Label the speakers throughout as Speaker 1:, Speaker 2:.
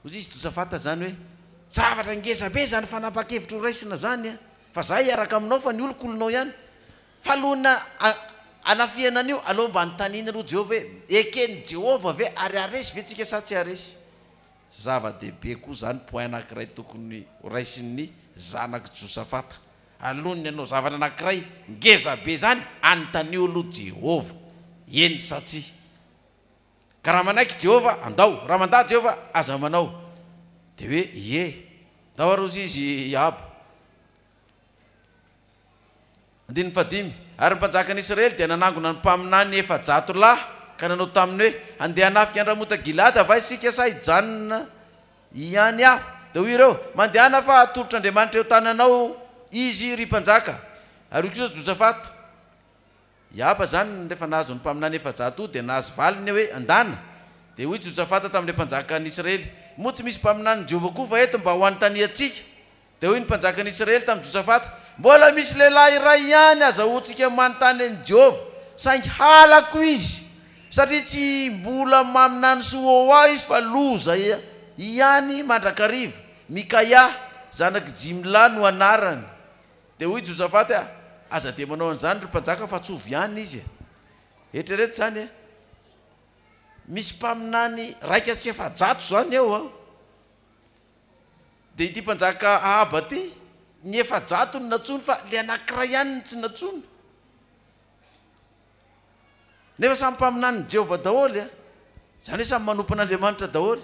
Speaker 1: Hoy izy, Josafata, izany hoe, Zavatra ngeza be izany fanapahan-kevitra ho raisina izany an! Fa izaho hiaraka aminao fa ny oloko olonao ihany. Fa alohan'ny hanafihana an'io, aleo mba anontaniana aloha Jehovah hoe, Eken'i Jehovah ve ary haharesy ve tsika sa tsy haharesy? Zava-dehibe koa izany point anankiray tokony ho raisin'ny zanak'i Josafata. Alohan'ny hanao zavatra anankiray ngeza be izany, anontanio aloha Jehovah, eny sa tsia. Ka raha manaiky i Jehovah, andao. Raha mandà Jehovah, aza manao. Dia hoe, Ie. Ndao aroso izy i Ahaba. Andininy fahadimy. Ary ny mpanjakan'Israely dia nanangona ny mpaminany efajato lahy ka nanao taminy hoe, Handeha hanafika an-dRamota Gileada va isika sa hijanona ihany aho? Dia hoy ireo, Mandehana fa hatolotr'Andriamanitra eo an-tananao izy, ry mpanjaka. Ary hoy kosa Josafata. I Aba izany rehefa nahazo ny mpaminany efajato dia nahazo valiny hoe andana. Dia hoy Josafata tamin'ilay mpanjakan'ny Israely, Moa tsy misy mpaminanin'i Jehovah koa va eto mba ho anontaniantsika? Dia hoy ny mpanjakan'ny Israely tamin'i Josafata, Mbola misy lehilahy iray ihany azahoantsika manontany an'i Jehovah, saingy halako izy, satria tsy mbola maminany soa ho ahy izy fa loza ihany mandrakariva. Mikaia zanak'i Jimla no anarany. Dia hoy Josafata e, Aza dia manao an'izany, ry mpanjaka, fa tsy ovy ihany izy e! Eritrereto izany e! Misy mpaminany iraika sy efajato izany eo an! Dia ity mpanjaka Ahaba ity, ny efajato no nantsoiny fa ilay anankiray ihany no tsy nantsoiny. Nefa samy mpaminanin'i Jehovah daholo, izany hoe samy manompo an'Andriamanitra daholo.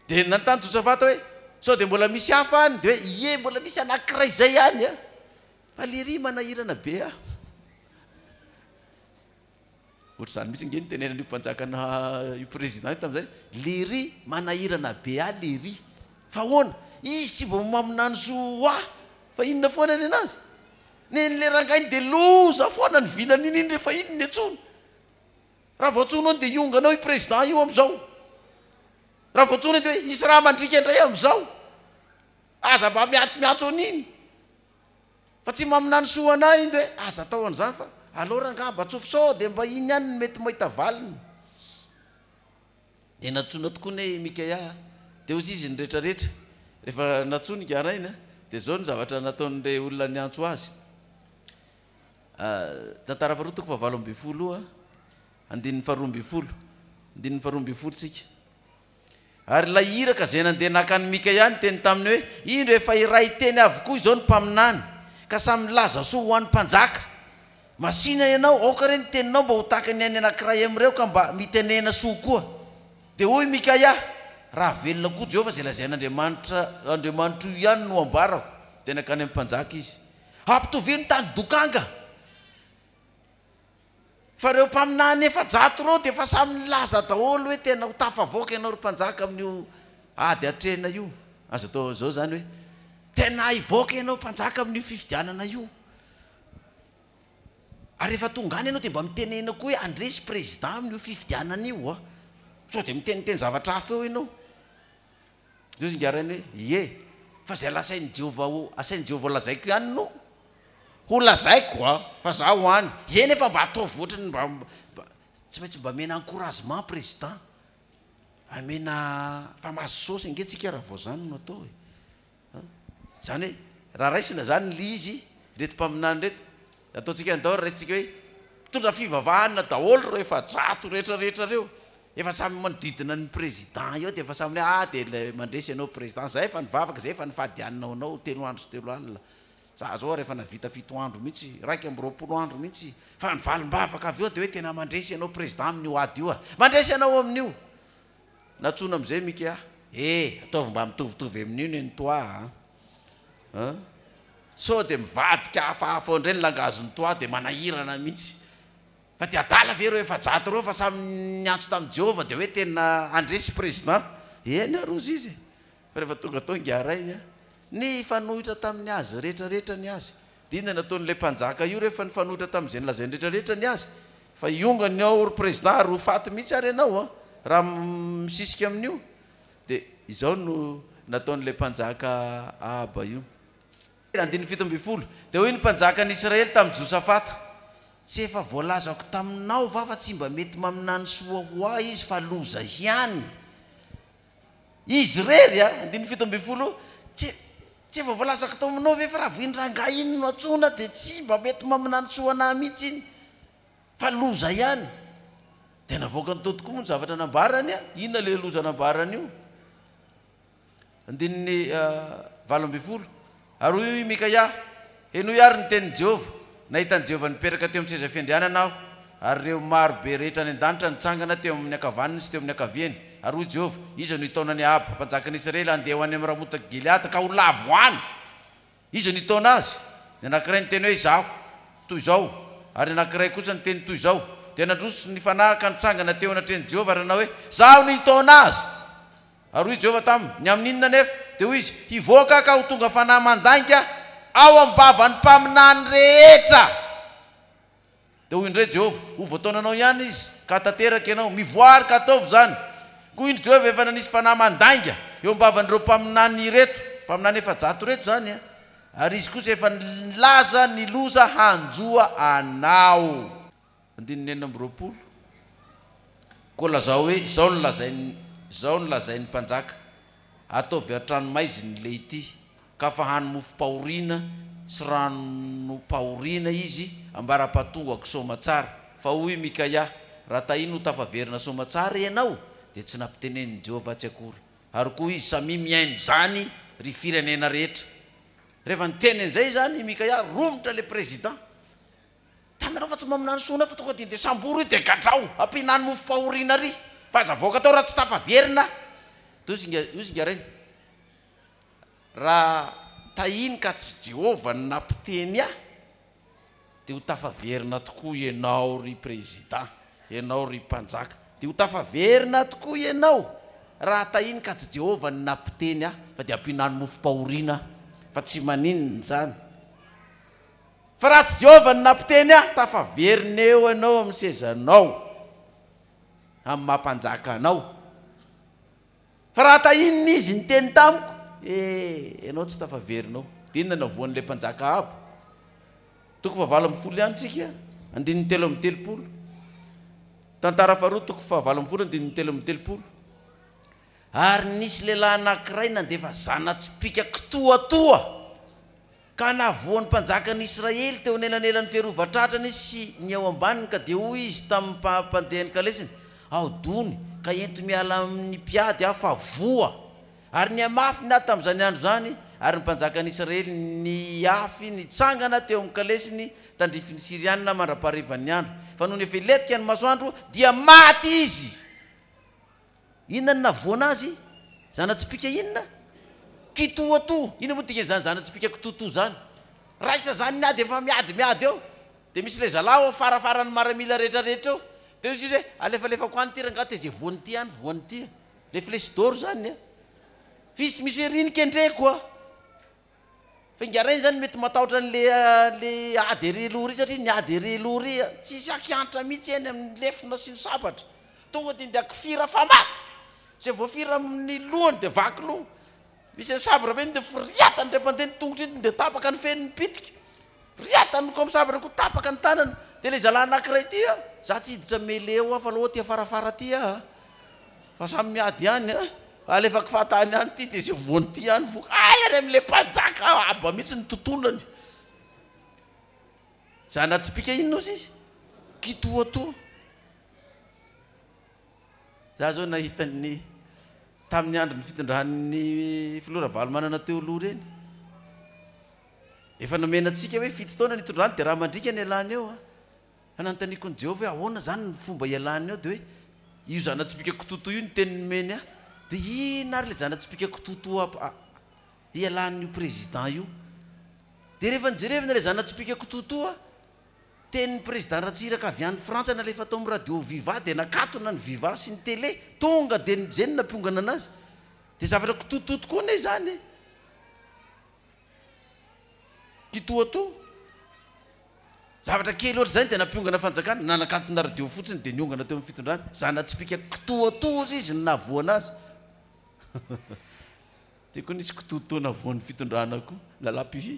Speaker 1: Dia nanontany Josafata hoe, Sao dia mbola misy hafa any? Dia hoe, Ie, mbola misy anankiray izay ihany, fa ilay iry manahirana be ahy. Ohatr'izany mihitsy ange ny tenenan'io mpanjakana, io président io tamin'izay, ilay iry manahirana be ahy ilay iry. Fa ahoana? Izy tsy vao maminany soa ho ahy, fa inona foana ny an'azy? Nen'ilay rangahy iny dia loza foana ny vilany iny iny rehefa iny ny antsoiny. Raha vao antsoinao iny dia hiongana ao io président io amin'izao. Raha vao antsoina iny dia hoe hisy raha mandriaka indray amin'izao. Aza mba miantsomiantso an'iny. Fa tsy maminany soa anà iny dia hoe aza atao an'izany fa alao rangahy mba tsofy sao dia mba iny ihany no mety mahita valiny. Dia nantsoina tokoa ny hoe Mikaia. Dia hozy izy ny rehetra rehetra. Rehefa nantsoiny ingahy rainy, dia izao ny zavatra nataon'ilay olona niantso azy. Tantara faharoa toko fahavalo ambin'ny folo andininy faharoa ambin'ny folo andininy faharoa ambin'ny folo tsika. Ary ilay iraka izay nandeha naka an'i Mikaia niteny taminy hoe, Indro efa iray teny avokoa izao ny mpaminany, ka samy nilaza soa ho an'ny mpanjaka. Masina ianao, aoka re ny teninao mba ho tahaka ny an'ny anankiray amin'ireo ka mba mitenena soa koa. Dia hoy i Mikaia, Raha velona koa Jehovah izay lazain'Andriamanitra, Andriamanitro io ihany no ambarako. Dia nankany amin'ny mpanjaka izy. Ampitovio ny tany dokanga. Fa ireo mpaminany efajato ireo dia efa samy nilaza daholo hoe tena ho tafavoaka ianao ry mpanjaka amin'io ady hatrehina io. Azo atao izao izany hoe, Tena hivoaka ianao mpanjaka amin'io fifidianana io. Ary rehefa tonga any ianao dia mba mitenena koa hoe handresy président amin'io fifidianana io an! Sao dia miteniteny zavatra hafa eo ianao. Ndry zingarainy hoe, ie, fa izay lasain'i Jehovah ho, asain'i Jehovah ho lazaiko ihany no, ho lazaiko an! fa za ho any, ie nefa mba ataovy ohatra ny mba, mba, tsy maintsy mba amena encouragement président, amena, fa mahazo sôsy ange tsika raha vao zany no atao e! Izany hoe raha raisina izany ilay izy, ireto mpaminany ireto, ataontsika any daholo, raisintsika hoe mpitondra fivavahana daholo ireo efajato rehetra rehetra ireo, efa samy manodidina ny président eo dia efa samy hoe ah dia ilay mandresy ianao président, izay efa nivavaka, izay efa nifadianina ho anao telo andro sy telo alina, za izao ary efa nahavita fito andro mihintsy, iraika amby roapolo andro mihintsy, fa ny valim-bavaka avy eo dia hoe tena mandresy ianao président amin'io ady io ah, mandresy anao amin'io, Natsoina amzay Micky ah. Eh! Ataovy mba mitovitovy amin'io ne ny toi a! An! Sao dia mivadika hafahafa oandray ny langagen'ny toi dia manahirana mihitsy. Fa dia adala ve ireo efajato ireo fa samy niantso tamin'i Jehovah dia hoe tena handresy Président? Eny ary hozy izy e! Fa rehefa tonga tao ingahy Rainy a! Nifanohitra tamin'ny azy rehetra rehetra ny azy Dina nataon'ilay mpanjaka io rehefa nifanohitra tamin'izay nolazainy rehetrarehetra ny azy fa hiongany ny ao ry president ary ho faty mihitsy ary ianao an! raha misisika amin'io dia izao no nataon'ilay mpanjaka Ahaba io. Andininy fito ambin'ny folo, Dia hoy ny mpanjakan'i Israely tamin'i Josafata, Tsy efa voalazako taminao va fa tsy mba mety maminany soa ho ahy izy fa loza ihany? Izy irery a! Andininy fito ambin'ny folo, Tsy tsy efa voalazako tao aminao ve fa raha vao iny rangahy iny no antsoina dia tsy mba mety maminany soa anah mihitsy iny fa loza ihany! Dia navoakany tao tokoa moa ny zavatra nambarany a! Inona ilay loza nambarany io? Andininy valo ambin'ny folo. Ary hoy i Mikaia, Henoy àry ny tenin'i Jehovah, 'Nahitan'i Jehovah nipetraka teo amin'ny seza fiandrianana aho, ary ireo maro be rehetra any an-danitra nitsangana teo amin'ny ankavaniny sy teo amin'ny ankaviany. Ary hoy Jehovah, 'Iza no hitaona an'i Ahaba, mpanjakan'i Israely, handeha ho any amin'ny Ramota Gileada, ka ho lavo any? Iza no hitaona azy? Ny anankiray niteny hoe, Izaho, toy izao, ary ny anankiray kosa niteny toy izao. Dia nandroso ny fanahy ka nitsangana teo anatrehan'i Jehovah ary nanao hoe, 'Izaho no hitaona azy! Ary hoy Jehovah tamin' ny amin' inona anefa? Dia hoy Izy, Hivoaka aho ka ho tonga fanahy mandainga ao am-bavan' ny mpaminany rehetra. Dia hoy indray Jehovah, Ho voataonanao ihany izy, ka hahatanteraka ianao. Mivoary ka ataovy izany. Koa indro Jehovah efa nanisy fanahy mandainga eo am-bavan' ireo mpaminany ireto, mpaminany efajato ireto izany, ary izy kosa efa nilaza ny loza hanjo anao. Andininy enina amby roapolo, Koa lazao hoe, 'Izao no lazain'ny, izao no lazain'ny mpanjaka, Ataovy an-tranomaizina ilay ity, ka fahano mofom-pahoriana sy ranom-pahoriana izy ambara-pahatongako soamatsara. Fa hoy i Mikaia, Raha tahiny ho tafaverina soamatsara ianao, dia tsy nampitenenin'i Jehovah atsy akory. Ary koa izy, Samia mihaino izany, ry firenena rehetra. Rehefa niteny an'izay izany i Mikaia, romotra ilay prezidà. Tanareo fa tsy mba minany sona fa tonga dia ndeha sambory io dia gadrao ampihinany mofom-pahoriana ary fa aza avoaka tao raha tsy tafaverina do zinga io zinga reny raha tahiny ka tsy Jehovah no nampiteny ahy dia ho tafaverina tokoa ianao ry Président ianao ry Mpanjaka dia ho tafaverina tokoa ianao raha tahiny ka tsy Jehovah no nampiteny ahy fa dia ampihinany mofom-pahoriana aho fa tsy maninona izany Fa raha tsy Jehovah no nampiteny ahy, tafaverina eo ianao amin'ny sezanao, amin'ny maha mpanjaka anao. Fa raha tahin'ny izy niteny tamiko, he, ianao tsy tafaverina ao. Dia inona no havoan'ilay mpanjaka Ahaba? Toko fahavalo ambin'ny folo ihany isika, andininy telo amby telopolo. Tantara faharoa, toko fahavalo ambin'ny folo, andininy telo amby telopolo. Ary nisy lehilahy anankiray nandefa zana-tsipìka kitoatoa. Ka nahavoa ny mpanjakan' Israely teo anelanelan' ny fiarovan-tratrany sy ny eo ambaniny, ka dia hoy izy tamin' ny mpandeha ny kalesiny, Ahodony, ka ento miala amin' ny mpiady aho, fa voa! Ary nihamafy ny ady tamin' izany andro izany, ary ny mpanjakan' Israely niafy nitsangana teo amin' ny kalesiny tandrifin' ny Syriana mandra-paharivan' ny andro, fa nony efa hilentika ny masoandro, dia maty izy. Inona no navoana azy? Zana-tsipìka inona? Kitoatoa. Inona moa ny dikan'izany zana-tsipìka kitoatoa izany? Raikitra izany ny ady efa miady miady eo, dia misy ilay zalahy ao afarafara ny maramila rehetrarehetra eo, dia hoy izy hoe alefalefako any ity rangahy tezia voany ity any voany ity, ilay flèche d'or izany an! F'isy misy hoe reny kendreko an! Fa ingahy Ray zany mety matahotra an'le le ady ery aloha ery satria ny ady ery aloha ery a, tsisy akihantra mihitsy eny amin'ny lefona sy ny sabatra, tonga dia indahy kifira fa mafy, zay voafira amin'ny lohany dia vaky loha, misy an'i sabra ve iny dia foriatany indray mpandeha ny tongotry iny dia tapaka ny fehin'ny pitika, Ry a! Tamin'ny niko misava ireo koa tapaka ny tanana. Dia ilay zalahy anankiray ity a! Za tsy hiditra mele eo aho fa aleo aty afarafara aty aho a! Fa samy miady ihany a! Alefako fahatany ihany ity dia izay voany ity ihany voky. Hay any amin'ilay mpanjaka aho haba mihitsy ny tontolony! Zana tsipìka inona ozy izy? Kitoatoa. Za izao nahita ny tamin'ny andron'ny fitondran'ny filoha Ravalomanana teo aloha ireny. Efa nomena antsika hoe fito taona ny hitondrany dia raha mandriaka ny ialany eo an! Fa nanontaniako an'i Jehovah hoe ahoana izany ny fomba hialany eo? Dia hoe, Io zana-tsipìka kitoatoa io ny teny nomeny ahy. Dia inona àry ilay zana-tsipìka kitoatoa hialan'io prezidà io? Dia rehefa nijerevana ilay zana-tsipìka kitoatoa, tenin'ny prezidà Ratsiraka avy any Frantsa nalefa tao amin'ny radio Viva dia nakatona ny Viva sy ny Télé. Tonga dia nijery ny nampiongana anazy. Dia zavatra kitoatoa tokoa anie izany e! kitoatoa, zavatra kely ohatry izany dia nampiongana fanjakana, nanakantona radio fotsiny dia niongana teo amin'ny fitondrana, zana-tsipìka kitoatoa hozy izy no nahavoana azy, dia koa nisy kitoatoa nahavoan'ny fitondrana koa, lalam-pifi,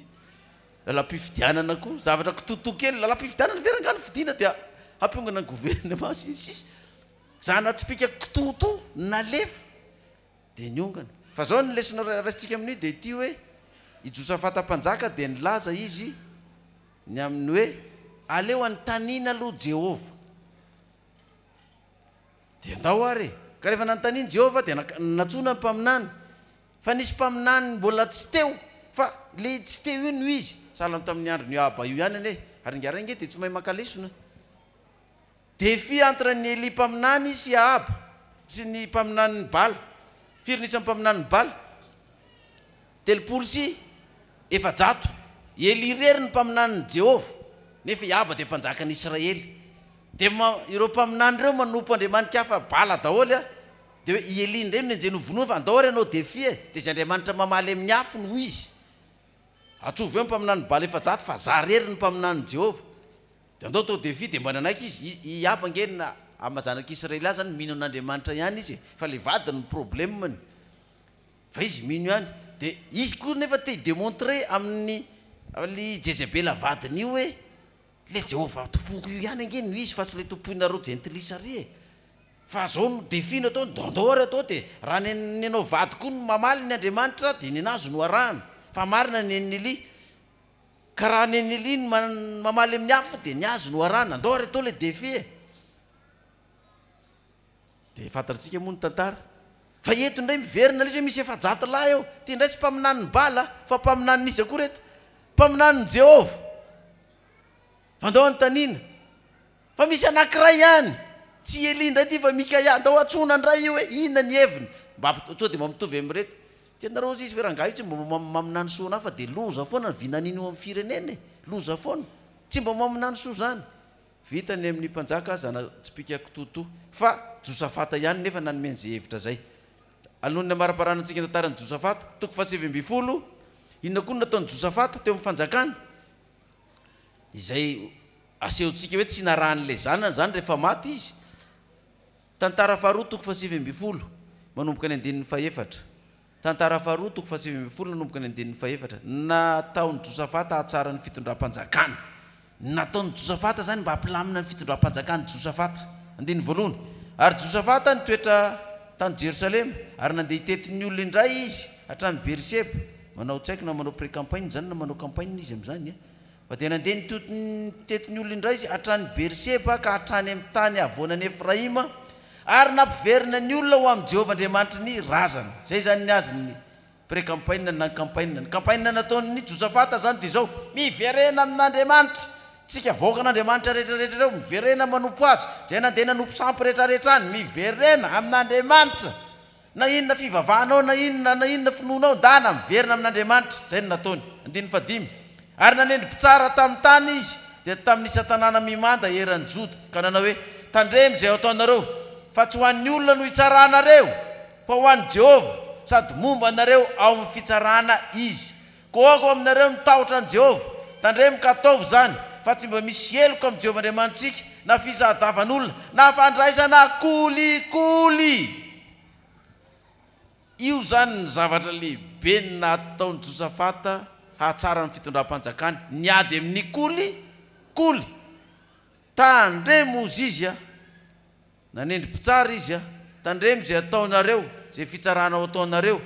Speaker 1: lalam-pifidianana koa, zavatra kitoatoa kely, lalam-pifidianana ve rangah no fidiana dia hampiongana ny governemanta sy ny sisa, zana-tsipìka kitoatoa nalefa. Dia niongana. Fa zao ny lesona raisintsika amin'io dia ity hoe, i Josafata mpanjaka dia nilaza izy ny amin'ny hoe, aleo anontaniana aloha Jehovah. Dia ndao ary e! Ka rehefa nanontaniany Jehovah dia nantsoina ny mpaminany. Fa nisy mpaminany mbola tsy teo. Fa ilay tsy teo io no izy. Sahala tamin'ny andron'i Ahaba io ihany anie. Ary ingahy Ray ange dia tsy mahay maka lesona. Défi entre ny Elia mpaminany sy Ahaba sy ny mpaminanin'i Bala, firy ny isan'ny mpaminanin'i Bala? telopolo sy efajato, i Elia irery no mpaminanin'i Jehovah, nefa i Ahaba dia mpanjakan'i Israely, dia ma, ireo mpaminany ireo manompo andriamanin-kafa Bala daholo an, dia hoe i Elia indray no nenjehiny ho vonoina, fa andao ary hanao défi e, dia izay andriamanitra mamaly amin'ny afo no izy, atrovy eo ny mpaminanin'i Bala efajato fa zah irery no mpaminanin'i Jehovah, Dia andao tao Devi dia mba nanaiky izy, i i Ahaba ange ny maha zanak'i Israely azy zany mino an'Andriamanitra ihany izy e, fa ilay vadiny no problème-ny, fa izy mino ihany, dia izy koa nefa te hi-demontrer amin'i an'i Jezebela vadiny io hoe ilay Jehovah Tompoko io ihany ange no izy fa tsy ilay tompoinareo jentilisa ary e, fa zao no défi no ataony, dia andao ary atao dia raha ny ny anao vady koa no mamaly ny Andriamanitra dia ny anazy no arahana, fa marina ny an'i Elia. Ka raha ny an'i Nelly ny mamaly amin'ny hafa dia ny azy no arahana, andao ary atao ilay défi e! Dia fantatr'tsika moa ny tantara. Fa eto indray miverina lesy hoe misy efajato lahy ao, ity indray tsy mpaminanin'i Bala fa mpaminanin'iza koa ireto? Mpaminanin'i Jehovah! Andao anontaniana fa misy anankiray ihany, tsy i Elia indray ity fa Mikaia, andao antsoina indray io hoe inona ny heviny, mba sao dia mba mitovy amin'ireto. Tianareo hozy izy ve rangahy io tsy mba mamina ny soanà fa dia loza foana ny vinaniny eo amin'ny firenena e! Loza foana! Tsy mba mamina ny soa izany! Vita ny amin'ny mpanjaka aza na tsipika kitoatoa fa Josafata ihany nefa nanome an'izay hevitra izay. Alohan'ny hamariparana antsika ny tantaran'i Josafata, toko fahasivy ambin'ny folo, inona koa no nataon'i Josafata teo amin'ny fanjakany? izay asehontsika hoe tsy narahan'ilay zanany izany rehefa maty izy. Tantara faharoa toko fahasivy ambin'ny folo manomboka ny andininy fahefatra. Tantara faharoa toko fahasivy ambin'ny folo nanomboka ny andininy fahefatra. Nataon'i Josafata hahatsara ny fitondram-panjakany. Nataon'i Josafata izany mba hampilamina ny fitondram-panjakan'i Josafata. Andininy voalohany. Ary Josafata nitoetra tany Jerosalema, ary nandeha hitety ny olona indray izy hatrany Beerseba. Manao tsy haiko na manao pré campagne izany na manao campagne izy amin'izany a! Fa dia nandeha nitety nitety ny olona indray izy hatrany Beerseba ka hatrany amin'ny tany havoanan'i Efraima ary nampiverina ny olona ho amin'i Jehovah Andriamanitry ny razana. Izay izany ny azy ny pré campagne na ny campagne. Ny campagne nataon'i Josafata izany dia izao, Miverena amin'Andriamanitry tsika, vahoakan'Andriamanitra rehetra rehetra ireo, miverena manompo Azy, izay nandeha nanompo sampy rehetra rehetra any, miverena amin'Andriamanitra Na inona fivavahanao, na inona na inona finoanao, ndana miverina amin'Andriamanitra. Izay no nataony. Andininy fahadimy. Ary nanendry mpitsara tamin'ny tany izy, dia tamin'ny isan-tanàna mimanda eran'i Joda, ka nanao hoe, Tandremo izay ho ataonareo, fa tsy ho an'ny olona no hitsaranareo, fa ho an'i Jehovah, sady momba anareo ao amin'ny fitsarana izy. Koa ho aminareo ny tahotra an'i Jehovah, tandremo ka ataovy izany, fa tsy mba misy heloka amin'i Jehovah Andriamanitsika, na fisadavan'olona, na fandraisana kolikoly. Io izany ny zavatra lehibe nataon'i Josafata hahatsara ny fitondram-panjakany, ny ady amin'ny kolikoly. Tandremo hozy izy, Nanendry mpitsara izy, Tandremo izay ataonareo, izay fitsarana ho ataonareo,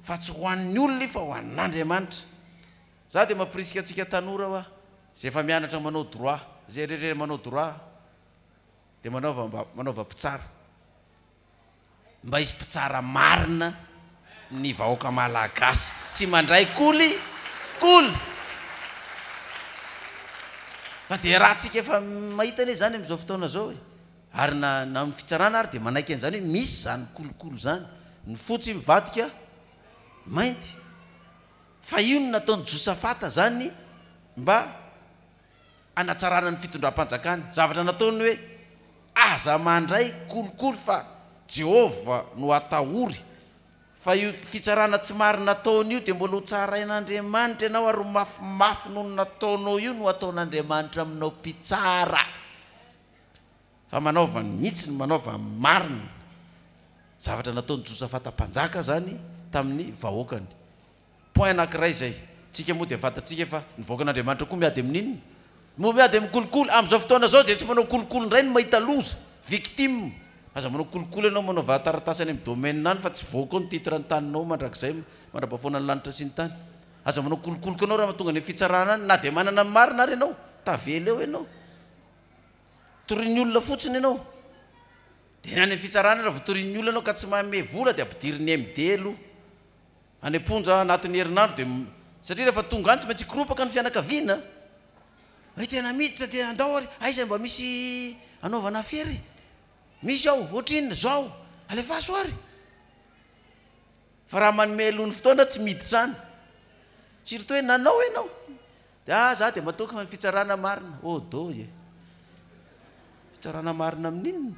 Speaker 1: fa tsy ho an'ny olona io fa ho an'Andriamanitra. Za dia mampirisika antsika tanora hoa, izay efa mianatra manao droit, izay rehetra manao droit dia manaova mba manaova mpitsara. Mba hisy mpitsara marina ny vahoaka malagasy tsy mandray koli koli fa dia raha tsika efa mahita anie zany amizao fotoana zao e ary na na ny fitsarana ary dia manaiky anzany hoe misy zany koli koli zany ny fotsy mivadika mainty fa io no nataony josafata zany mba hanatsarana ny fitondram-panjakana. Zavatra nataony hoe, Aza mandray kolikoly fa Jehovah no atahory. Fa io fitsarana tsy marina ataony io dia mbola hotsarain'Andriamanitra ianao ary mafimafy noho ny nataonao io no hataon'Andriamanitra aminao mpitsara. Fa manaova mihitsy ny manaova ny marina. Zavatra nataon'i Josafata Mpanjaka izany tamin'ny vahoakany. Point anakiray zay. Tsika moa dia fantatsika fa ny vahoakan'Andriamanitra koa miady amin'inona? Moa miady amin'ny kolikoly? Amin'izao fotoana zao izay tsy manao kolikoly indray no mahita loza, victime. Aza manao kolikoly ianao, manao vahataratasy any amin'ny domaine any fa tsy voa koa ny titre ny taninao mandrakizay mandrapahafoana ny lanitra sy ny tany. Aza manao kolikoly koa ianao raha tonga any amin'ny fitsarana any na dia manana ny marina ary ianao. Tavela eo ianao. Torian'ny olona fotsiny ianao. Dia any amin'ny fitsarana raha vao torian'ny olona ianao ka tsy manome vola dia ampidirin'ny MD aloha. Any am-ponja anatin'ny herinandro dia satria rehefa tonga any tsy maintsy hikoropaka ny fianakaviana e! tena miditra dia andao ary aiza mba misy anaovana afera e! misy ao ohatrinona zao alefaso ary fa raha manome aloha ny fotoana tsy miditra any surtout hoe nanao ianao dia ah za dia matoky ny fitsarana marina oh doy e! fitsarana marina amin'inona?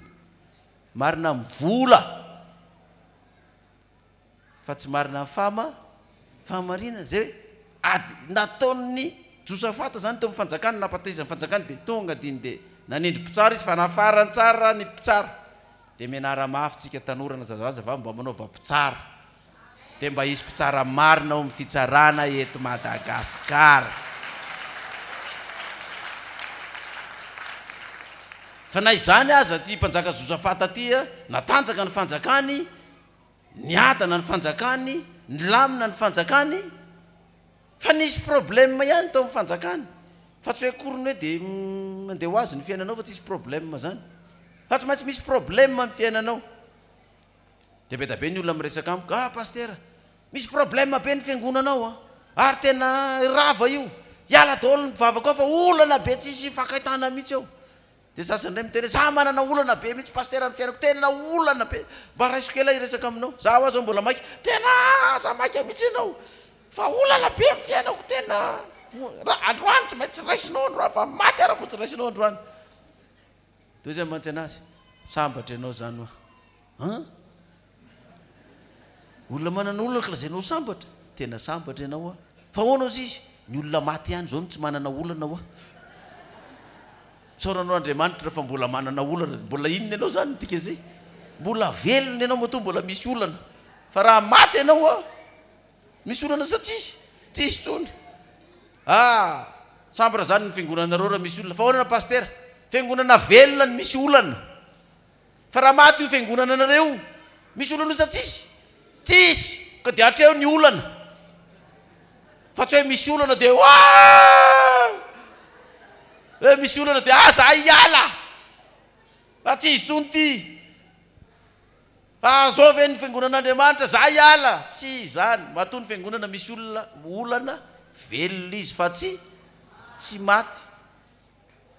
Speaker 1: marina amin'ny vola Fa tsy marina ny fahama fahamarinana zay hoe ady nataon'ny Josafata zany teo amin'ny fanjakany nampatezany fanjakany dia tonga diny dia nanindry mpitsara izy fa nafarany tsara ny mpitsara dia mianara mafy tsika tanora na zazalaza vavy mba manaova mpitsara dia mba hisy mpitsara marina ao amin'ny fitsarana eto Madagasikara fa na izany aza ity mpanjaka Josafata ity natanjaka ny fanjakany Niadana ny fanjakany, nilamina ny fanjakany, fa nisy problème ihany tao amin'ny fanjakany, fa tsy hoe akory ny hoe dia mandeha ho azy ny fiainanao fa tsisy problème izany, fa tsy maintsy misy problème ny fiainanao. Dia be dia be ny olona miresaka amiko, ah Pasitera, misy problème be ny fiangonana ao an, ary tena rava io, hiala daholo ny mpivavaka ao fa olana be tsisy hifankaitana mihitsy ao. Dia za zany indray miteny hoe za manana olana be mihitsy Pasitera amin'ny fiainako, tena olana be, mba raisiko ela hiresaka aminao, za ho'aho zao mbola maika, tena aza maika mihitsy ianao fa olana be amin'ny fiainako, tena androany tsy maintsy raisinao androany fa maty ara ko tsy raisinao androany. Dia hoy zay mantsy anazy, sambatra ianao zany hoa, an? Olona manana olona ka lazainao sambatra? Tena sambatra ianao hoa. Fa ahoana ozy izy? Ny olona maty ihany izao no tsy manana olana hoa. Isaoranao Andriamanitra fa mbola manana olana. Mbola inona ianao izany midika izay? Mbola velona ianao matoa mbola misy olana. Fa raha maty ianao hoa, misy olana sa tsisy? Tsisy intsony. Ah! Sambatra izany ny fiangonanareo raha misy olona. Fa ahoana Pasitera? Fiangonana velona no misy olana. Fa raha maty io fiangonana anareo misy olona loza tsisy? Tsisy! Ka dia hatreo ny olana. Fa tsy hoe misy olana dia waah! Hoe misy olana dia ah za hiala! Fa tsy izony ity! Fa zao ve ny fiangonan'Andriamanitra? Za hiala! Tsy izany! Matoa ny fiangonana misy olona olana, velona izy fa tsy tsy maty.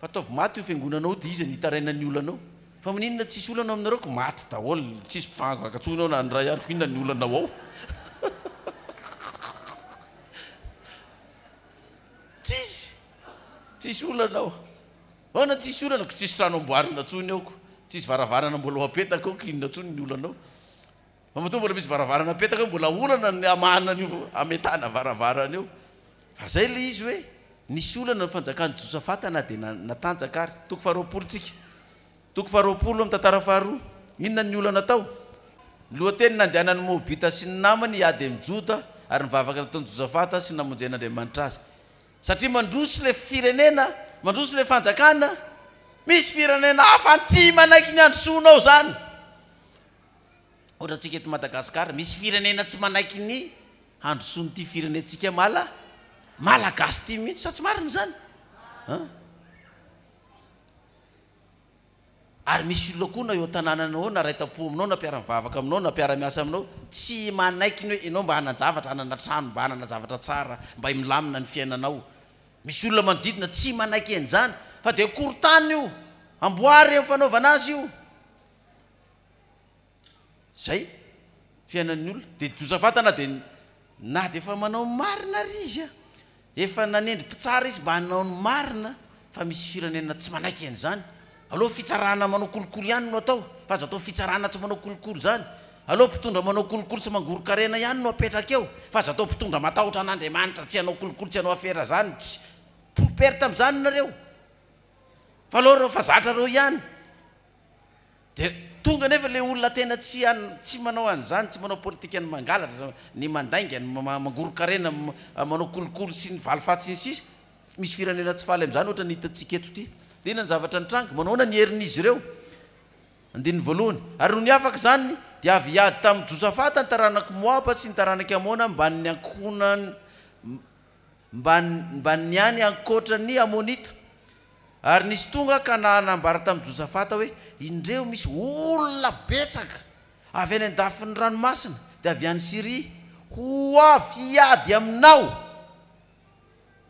Speaker 1: Fataovy maty io fiangonana ao dia iza ny hitaraina ny olanao? Fa maninona tsisy olana ao aminareo ko maty daholo tsisy mpivagnavanga tsony ao na ny ray ary ko inona ny olanao ao? Tsisy tsisy olana ao. Ahoana tsisy olana ko tsisy trano amboarina tsony ao ko tsisy varavarana mbola ho apetaka ao ko inona tsony ny olanao? Fa matoa mbola misy varavarana apetaka eo mbola olana ny hamahana an'io hametahana varavarana io. Fa zay le izy hoe nisy olana ny fanjakan'i Josafata na dia natanjaka ary. Toko faharoapolo tsika. Toko faharoapolo amin'ny tantara faharoa. Inona ny olana tao? Lohateny, Nandehanan'ny Moabita sy ny namany hiady amin'i Joda ary nivavaka nataon'i Josafata sy namonjen'Andriamanitra azy. Satria mandroso le firenena, mandroso le fanjakana, misy firenena hafa tsy manaiky ny handrosoanao zany. Ohatra antsika eto Madagascar misy firenena tsy manaiky ny handrosoan ity firenentsika mala malagasy ity mihitsy sa tsy marina izany an ary misy olona koa na eo tanànana ao na raitapo aminao na mpiara mivavaka aminao na mpiara miasa aminao tsy manaiky ny hoe ianao mba hanan-javatra hanana trano mba hanana zavatra tsara mba milamina ny fiainanao misy olona manodidina tsy manaiky an'izany fa dia akory tany io amboary eo fanaovana azy io Zay fiainan'ny olona de doza vatana de na de efa manao ny marina ary izy a, efa nanendry mpitsara izy mba hanao ny marina fa misy firenena tsy manaiky an'izany, aleo fitsarana manao kolikoly ihany no atao fa aza atao fitsarana tsy manao kolikoly zany, aleo mpitondra manao kolikoly sy mangoron-karena ihany no apetraka eo fa aza atao mpitondra matahotra an'Andriamanitra tsy hanao kolikoly tsy hanao afera zany tsy pour perte am'zany nareo fa aleo reo fa zatra reo ihany. Dia tonga anefa ilay olona tena tsy tsy manao an'izany, tsy manao politikan'ny mangalatra, ny mandainga, ny mangoron-karena, manao kolikoly sy ny valifaty sy ny sisa. Misy firenena tsy faly amin'izany ohatra ny hitantsika eto ity. Dia inona ny zavatra nitranga? Manahoana ny herin'izy ireo? Andininy voalohany. Ary nony afaka izany dia avy hiady tamin'i Josafata ny taranak'i Moaba sy ny taranak'i Amona ambanin'ny ankohonan'i mba mba ny any ankoatra ny Amonita. Ary nisy tonga ka na nambara tamin'i Josafata hoe, Indreo misy olona betsaka avy any an-dafin'ny ranomasina, dia avy any Syria, ho avy hiady aminao.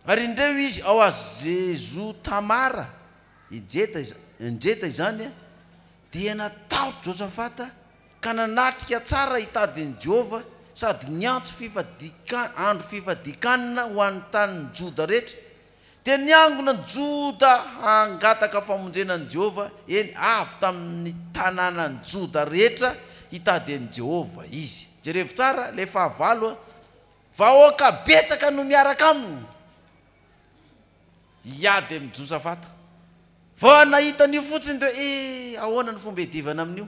Speaker 1: Ary indreo izy ao Hazezotamara, Hejeta, Enjeta izany, Dia natahotra Josafata ka nanatrika tsara hitady an'i Jehovah sady niantso fifadikan, andro fifadikanana ho an'ny tanin'i Joda rehetra. Dia niangona an'i Joda hangataka famonjena an'i Jehovah, eny, avy tamin'ny tanànan'i Joda rehetra hitady an'i Jehovah izy. Jerevo tsara ilay fahavalo a! Vahoaka betsaka no miaraka aminy! Hiady amin'ny Josa Vata. Vao nahita an'io fotsiny dia hoe eh! Ahoana ny fomba hiadivana amin'io?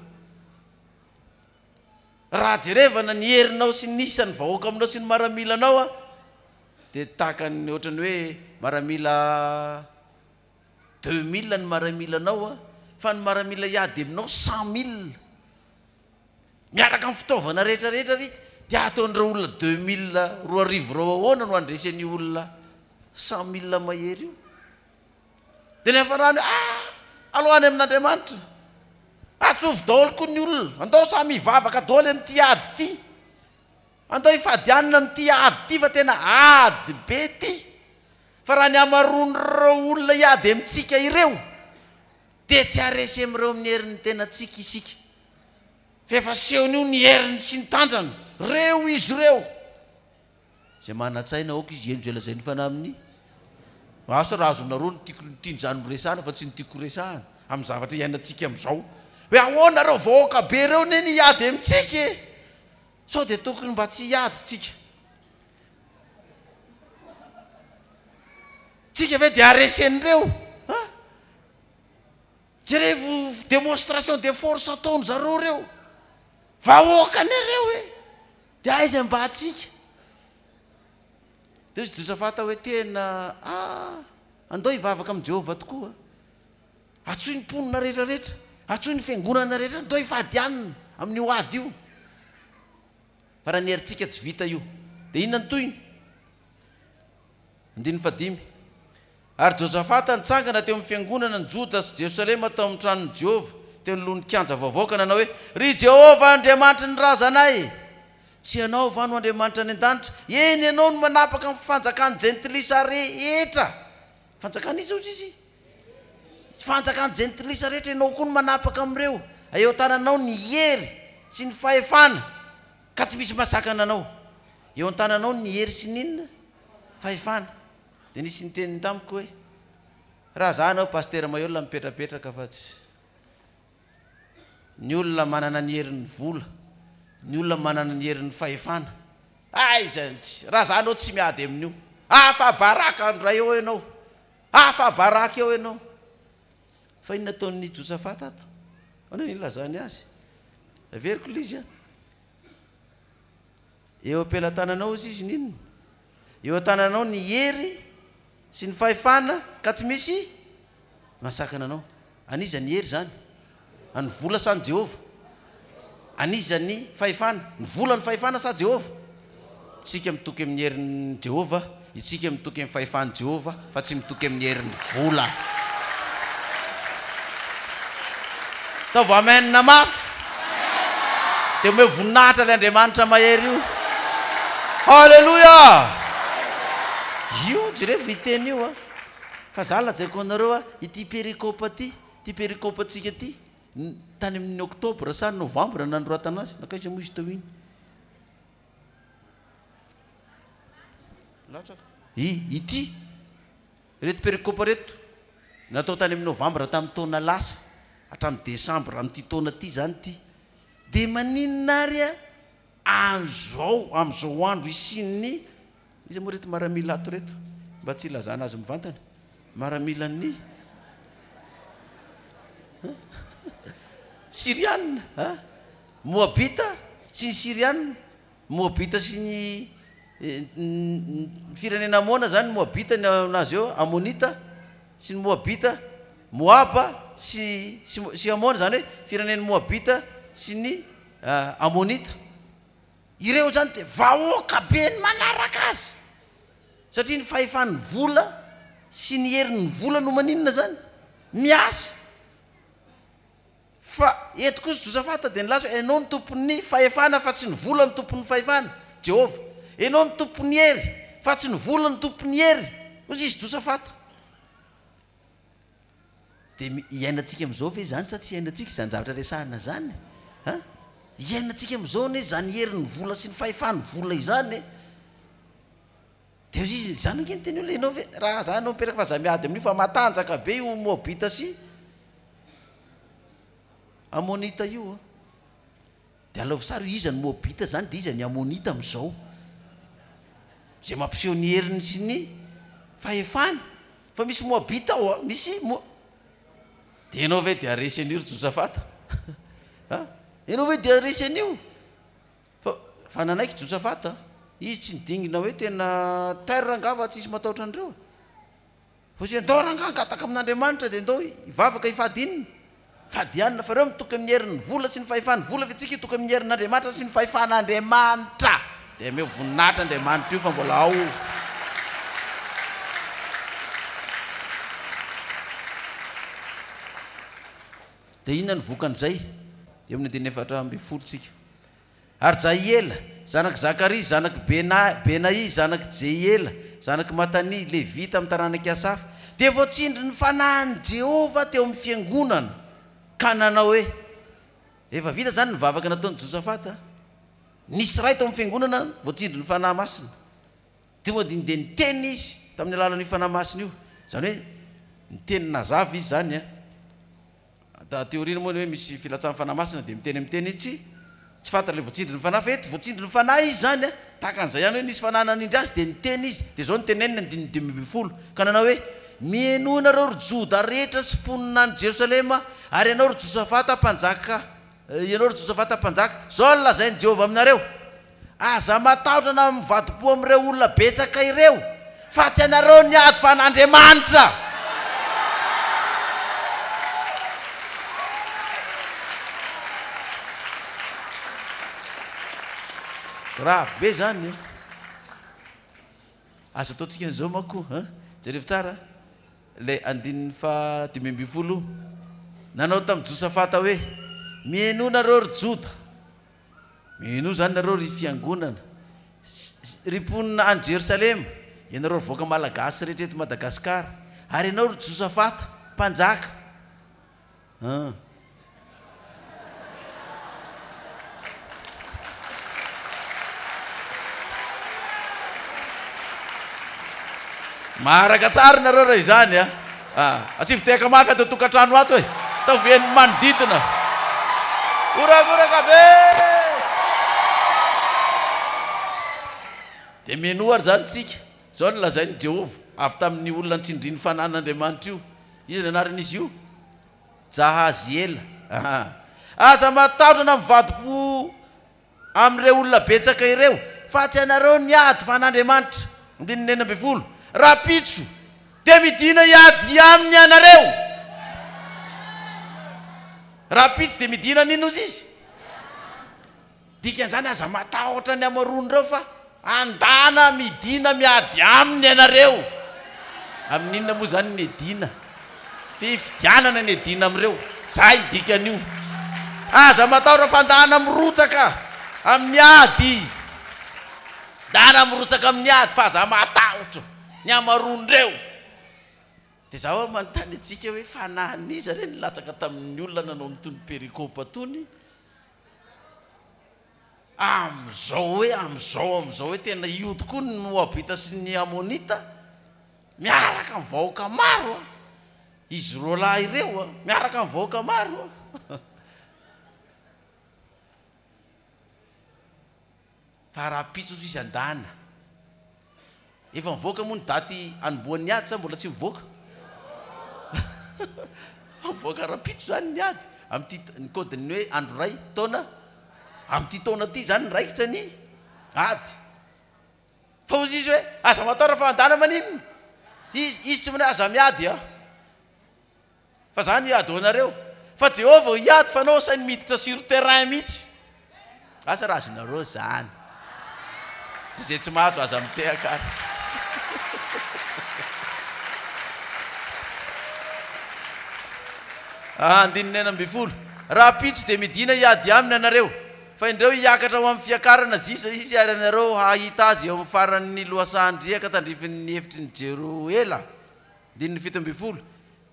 Speaker 1: Raha jerevana ny herinao sy ny isan'ny vahoaka aminao sy ny maramila anao dia tahaka ny ohatran'ny hoe maramila deux mille ny maramila anao fa ny maramila hiady aminao cent mille. Miaraka amin'ny fitaovana rehetra rehetra ry dia hataon'ireo olona deux mille roa arivo ireo ahoana no handresy an'io olona cent mille mahery io? Dia ny hafarany hoe ah! alao any amin'Andriamanitra, atsovy daholo koa ny olona, andao samy hivavaka daholo amin'ity ady ity, andao hifady hanina amin'ity ady ity fa tena ady be ity. Fa raha ny hamaroan'ireo olona hiady amintsika ireo, dia tsy haharesy amin'ireo amin'ny herin'ny tenantsika isika. Fa efa asehony io ny heriny sy ny tanjany. Reo izy ireo izay manan-tsaina aoka izy hihenjo izay lazain'ny Fanahy amin'ny. Asa raha azonareo ny tiako ny tian-drano horesahana fa tsy ny tiako horesahana, amin'ny zavatra iainantsika amin'izao. Hoe ahoana ireo vahoaka be ireo anie ny hiady amintsika e! Sao dia tokony mba tsy hiady tsika? Tsika ve dia haharesy an'ireo? Ha? Jerevo demonstration de force ataon-dry zareo ireo. Vahoaka anareo e! Dia aiza mba tsika? Dia hoy Josafata hoe, Tena, ah, andao hivavaka amin'i Jehovah tokoa. Antsoy ny mponina rehetra rehetra, antsoy ny fiangonana rehetra ndao hifadianina amin'io ady io. Fa raha ny herintsika tsy vita io dia inona ny tohiny? Andininy fahadimy. Ary Josafata nitsangana teo amin'ny fiangonana ny Joda sy Jerosalema tao amin'ny tranon'i Jehovah, teo anoloan'ny kianja vaovao ka nanao hoe, Ry Jehovah Andriamanitry ny razanay, tsy ianao va no Andriamanitra any an-danitra? Eny, ianao no manapaka ny fanjakan'ny jentilisa rehetra. Fanjakan'iza hozy izy? Fanjakan'ny jentilisa rehetra, ianao koa no manapaka amin'ireo, eo an-tananao ny hery sy ny fahefana, ka tsy misy masakana anao. Eo an-tananao ny hery sy ny inona? Fahefana. Dia nisy niteny tamiko hoe, Raha izaho hanao Pasitera Maheola mipetrapetraka fa tsy ny olona manana ny herin'ny vola, ny olona manana ny herin'ny fahefana, aiza ny tsy, raha izaho hanao tsy miady amin'io. Afa-baraka andro iray eo ianao. Afa-baraka eo ianao! Fa inona ataon'i Josafata ato? Ahoana ny ilazany azy? Averiko ilay izy an! Eo am-pelatananao izy izy n'inona? Eo an-tananao ny hery sy ny fahefana ka tsy misy mahasakana anao. An'iza ny hery izany? An'ny vola sa an'i Jehovah? An'iza ny fahefana? Ny vola no fahefana sa Jehovah? Isika mitoky amin'ny herin'i Jehovah, isika mitoky amin'ny fahefan'i Jehovah fa tsy mitoky amin'ny herin'ny vola. Ataovy Amen mafy, dia omeo voninahitra ilay Andriamanitra mahery io. Haleloia! Io jereo viteny io a. Fa za lazaiko anareo a, ity perikopa ity, ity perikopantsika ity, tany amin' ny oktobra sa novambra nanoratana azy, nankaiza moa izy teo iny? Latsaka. I, ity, ireto perikopa ireto, natao tany amin' ny novambra tamin'ny taona lasa, hatramin'ny desambra amin'ity taona ity izany ity. Dia maninona ary a, amin'izao, amin'izao andro isian'ny Iza moa reto maramila ato reto mba tsy hilazana azy mivantana? Maramilan'ny Siriana a? Moabita sy ny Siriana, Moabita sy ny ny firenena Amona zany ny Moabita ny azy eo, Amonita sy ny Moabita, Moaba sy sy sy Amona zany hoe firenen'ny Moabita sy ny Amonita. Ireo izany dia vahoaka be ny manaraka azy satria ny fahefan'ny vola sy ny herin'ny vola no maninona izany? Miasa. Fa eto kosa Josafata dia nilaza hoe, Ianao no tompon'ny fahefana fa tsy ny vola no tompon'ny fahefana, Jehovah. Ianao no tompon'ny hery fa tsy ny vola no tompon'ny hery, hoy izy Josafata. Dia iainantsika amin'izao ve izany sa tsy iainantsika izany zavatra resahina izany e? An! Iainantsika amin'izao anie izany herin'ny vola sy ny fahefan'ny vola izany e! Dia izy izany ange ny teny hoe ianao ve raha izaho no miteraka fa izaho miady amin'io fa matanjaka be io Moabita sy Amonita io an! Dia alaovy sary io iza ny moabita zany dia iza ny amonita amin'izao. Izay mampiseho ny heriny sy ny fahefany. Fa misy moabita ao an, misy mo. Dia ianao ve dia resy an'io ry Josafata? an, ianao ve dia resy an'io? Fa, fa nanaiky Josafata an. Izy tsy nidingina hoe tena terre angamba tsisy matahotra an'ireo e. Fa izay ndao rangah angataka amin'Andriamanitra dia ndao hivavaka hifady inona? Fady ianona fa ireo mitoky amin'ny herin'ny vola sy ny fahefany vola fa itsika hitoky amin'ny herin'Andriamanitra sy ny fahefan'Andriamanitra dia hameo voninahitra Andriamanitra io fa mbola ao Dia inona no vokan'izay? Eo amin'ny andininy efatra ambin'ny folo tsika. Ary Jahiela, zanak'i Zakaria, zanak'i Benaia, zanak'i Jehiela, zanak'i Matania, Levita amin'ny taranak'i Asafa, dia voatsindry ny fanahin'i Jehovah teo amin'ny fiangonana, ka nanao hoe, Rehefa vita izany ny vavaka nataon'i Josafata, nisy iray tao amin'ny fiangonana voatsindry ny fanahy masina. Dia niteny izy tamin'ny alalan'io fanahy masina io, izany hoe niteny nazava izy izany. Da aty aoriana moa ny hoe misy filatsahan'ny Fanahy Masina dia miteny amin'ny teny tsy tsy fantatra ilay voatsindrin'ny Fanahy fa eto voatsindrin'ny Fanahy izy izany a, tahaka an'izay ihany hoe nisy Fanahy nanindry azy dia niteny izy dia izao no teneniny andininy dimy ambin'ny folo ka nanao hoe mihenoa ianareo ry Joda rehetra sy mponina any Jerosalema ary ianao ry Josafata mpanjaka ianao ry Josafata mpanjaka izao no lazain'i Jehovah aminareo Aza matahotra na mivadi-po amin'ireo olona betsaka ireo, fa tsy ianareo ny ady fa an'Andriamanitra. Grave be izany e! Aza ataontsika an'izao manko an! Jereo tsara ilay andininy faha dimy ambin'ny folo, nanao tamin'i Josafata hoe, Mihainoa nareo ry Joda, Mino izany nareo ry fiangonana sy ry mponina any Jerosalema, ianareo ry vahoaka malagasy rehetra eto Madagascar, ary ianao ry Josafata, mpanjaka. An. Maharaka tsara nareo raha izany an. Ah! Tsy viteka maka ato an-tokantrano ato e! Ataovy ny manodidina ho ragoraka be! Dia minoa ary izany isika. Izao no lazain'i Jehovah, avy tamin'ny olona nitsindrian'ny fananan'Andriamanitra io, Iza ny anaran'izy io? Jahaziela. Aza matahotra na mivadi-po. amin'ireo olona betsaka ireo, fa tsy ianareo ny ady fa an'Andriamanitra. Andininy enina ambin'ny folo, Rahampitso dia midina hiady aminy ianareo. Rahampitso dia midina hanino ozy izy. Dikan'izany, aza matahotra ny hamaroan'ireo fa Andana midina miady aminy ianareo. Amin'ny inona moa izany ny edina? Fifidianana ny edina amin'ireo. Izay ny dikan'io. Aza matahotra fa andana mirotsaka amin'ny ady. Andana mirotsaka amin'ny ady fa aza matahotra. Ny hamaroan'ireo. Dia izaho aho manontany antsika hoe fanahin'iza re ny latsaka tamin'ny olona nanao an'itony pericopes itony? Amin'izao hoe amin'izao amin'izao hoe tena io tokoa ny Moabita sy ny Amonita miaraka amin'ny vahoaka maro an! Izy roa lahy ireo an, miaraka amin'ny vahoaka maro an! Fa rahampitso izy an-dahana. Efa mivoaka moa ny daty anombohan ny ady sa mbola tsy mivoaka? Mivoaka rahampitso izany ny ady amin'ity ny code ny hoe andro iray taona amin'ity taona ity izany ny raikitra ny ady. Fa hozy izy hoe aza mataora fa handana maninona? Izy izy tsy manahy aza miady a! Fa zany hiady ho anareo. Fa Jehovah vao hiady fa anao sainy miditra sur terrain mihitsy. Asa raha azonareo zany. Dia izay tsy mahazo aza mitehaka ary. Andininy enina ambin'ny folo. Rahampitso dia midina hiady aminy ianareo. Fa indreo hiakatra ho amin'ny fiakarana zisa izy ary ianareo hahita azy eo amin'ny faran'ny lohasahan-driaka tandrifin'ny efitry ny Jeroela. Andininy fito ambin'ny folo,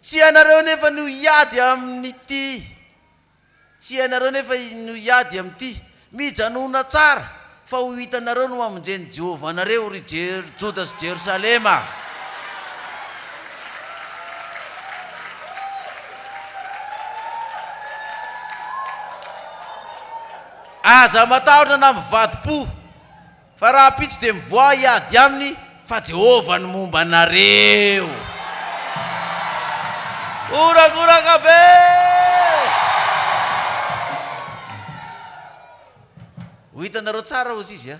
Speaker 1: Tsy ianareo anefa no hiady amin'ity, tsy ianareo anefa no hiady amin'ity. Mijanòna tsara, fa ho hitanareo no hamonjen'i Jehovah anareo, ry Joda sy Jerosalema. Aza matahotra na mivadi-po. Fa rahampitso dia mivoaha hiady aminy fa Jehovah no momba anareo. Horagoraka be! Ho hitanareo tsara hozy izy a!